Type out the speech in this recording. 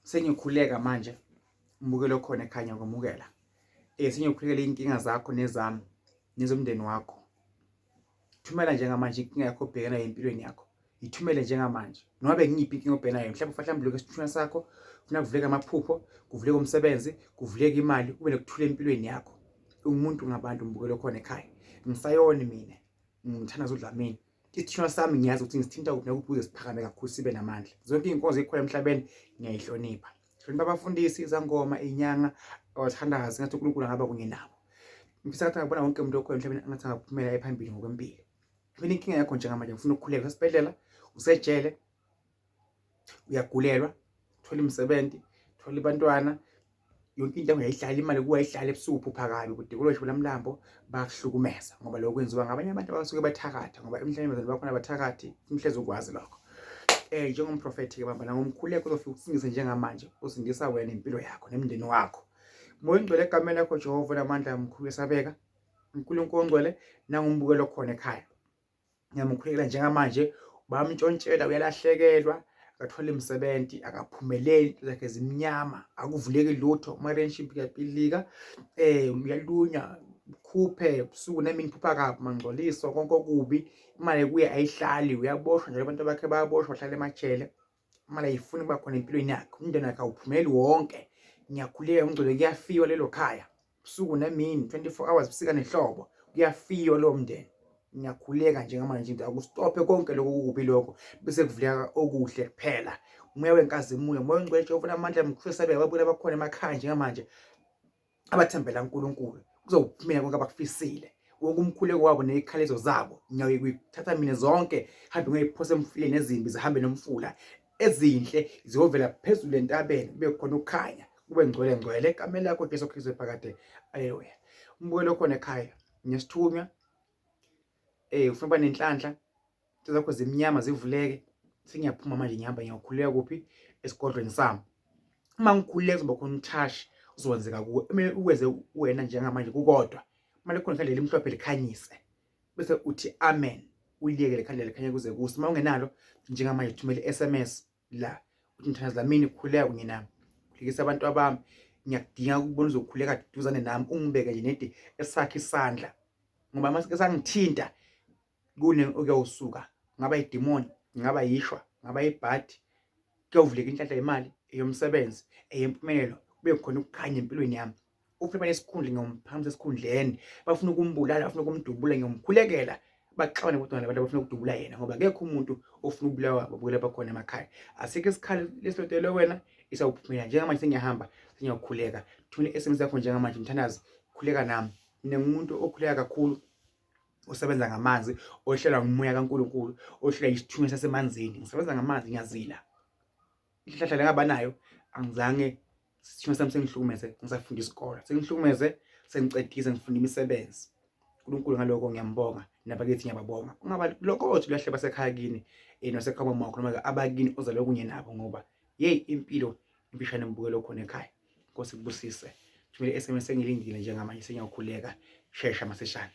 sengikhuleka manje umukelo okhona ekhanya kwamukela eh sengiyokhulekela inkinga zakho nezami nezomndeni wakho thumela njengamanje inkinga yakho obhekana nayo empilweni yakho ithumele njengamanje noma bengiyiphi inkinga obhekana nayo mhlawumbe ufanele mhlawumbe isithunywa sakho funa kuvuleka amaphupho kuvuleka umsebenzi kuvuleka imali ube nokuthula empilweni yakho ungumuntu ngabantu ngibukele khona ekhaya ngisayoni mina ngimthanda zodlamini isithinwa sami ngiyazi ukuthi ngisithinta kuphi nakuphi ukuze siphakame kakhulu sibe namandla zonke iy'nkonzo ey'khona emhlabeni ngiyayihlonipha hlonipha abafundisi izangoma iy'nyanga abathandazi ngathi unkulunkulu angaba kunye nabo ngifisa kathi angabona wonke umuntu okhona emhlabeni angathi angaphumela ephambili ngokwempilo mina inkinga yakho njengamanje ngifuna ukukhuleka usesibhedlela usejele uyagulelwa thola imisebenzi thola abantwana yonke into engayihlali imali kuwa ihlale ebusuku phupha kabi kude kulosho lamlambo bakuhlukumeza ngoba lokho kwenziwa ngabanye abantu abasuke bathakatha ngoba emhlabeni bazali bakhona abathakathi umhlezi ukwazi lokho eh njengomprofethi ke bamba la ngomkhuleko uzofika ukusingise njengamanje usindisa wena impilo yakho nemndeni wakho moya ongcwele egameni lakho Jehova namandla amkhulu esabeka uNkulunkulu ongcwele nangumbukelo khona ekhaya ngiyamukhulekela njengamanje bamtshontshela uyalahlekelwa akathole imisebenzi akaphumeleli into zakhe zimnyama akuvuleki lutho umarenship kuyapilika um uyalunya khuphe busuku nami ngiphupha kabi mangcoliso konke okubi imali kuye ayihlali uyaboshwa njalo abantu bakhe bayaboshwa bahlala emajele imali ayifuni ukuba khona empilweni yakhe umndeni wakhe awuphumeli wonke ngiyakhuleka umgcwele kuyafiwa lelo khaya usuku nemini 24 hours busika nehlobo kuyafiwa lowo mndeni ngiyakhuleka njengamanje nje akusitophe konke lokho kukubi lokho bese kuvuleka okuhle kuphela umoya wenkazimulo umoya ongcwele jehova unamandla mkhulisa bebabuye abakhona emakhaya njengamanje abathembela uNkulunkulu kuzophumela konke abakufisile wonke umkhuleko wabo nezikhalezo zabo ngiyaye kuyithatha mina zonke hambe ngiyiphosa emfuleni ezimbi zihambe nomfula ezinhle ziyovela phezulu entabeni kube khona ukukhanya kube ngcwele ngcwele egameni lakho Jesu Kristu ephakade aleluya umbukelo khona ekhaya nesithunywa eh ufuna nenhlanhla into zakho zimnyama zivuleke sengiyaphuma manje ngihamba ngiyakhuleka kuphi esigodlweni sami uma ngikhuleka kuzoba khona umthashi uzowenzeka kuwe kumele uwenze wena njengamanje kukodwa kumele khona ikhandlela elimhlophe likhanyise bese uthi amen uliyekele ikhandlela likhanye kuze kuse uma ungenalo njengamanje thumele i-sms la uthi mthandazi lamini khuleka kunye nami khulekisa abantu abami ngiyakudinga ukubona uzokhuleka duzane nami ungibeke nje nedi esakhe isandla ngoba masike sangithinta kune okuyawusuka ngaba idimoni ngaba yishwa ngaba ibhadi kuyovuleka inhlanhla yemali eyomsebenzi eyempumelelo kube khona ukukhanya empilweni yami ufuna imali esikhundla ngiyomphamisa esikhundleni bafuna ukumbulala bafuna ukumdubula ngiyomkhulekela baxabane kodwa nabantu abafuna ukudubula yena ngoba akekho umuntu ofuna ukubulawa babukela bakhona emakhaya asikho isikhali lesilotelwe wena isawuphumela njengamanje sengiyahamba sengiyakhuleka thuna i-sms yakho njengamanje mthandazi khuleka nami mina ngumuntu okhuleka kakhulu usebenza ngamanzi ohlelwa ngumoya kaNkulunkulu ohlelwa isithunywa sasemanzini ngisebenza ngamanzi ngiyazila ihlahla lengabanayo angizange isithunywa sami sengihlukumeze ngisafunda isikole sengihlukumeze sengicedise ngifunda imisebenzi uNkulunkulu ngaloko ngiyambonga nabakithi ngiyababonga ungaba lokho othi uyahle basekhaya kini eh, nasekhaya kwakho noma abakini ozalwe kunye nabo ngoba yeyi impilo impishane mbukelo khona ekhaya nkosi kubusise thumele i-sms engilindile njengamanje sengiyakhuleka shesha masishane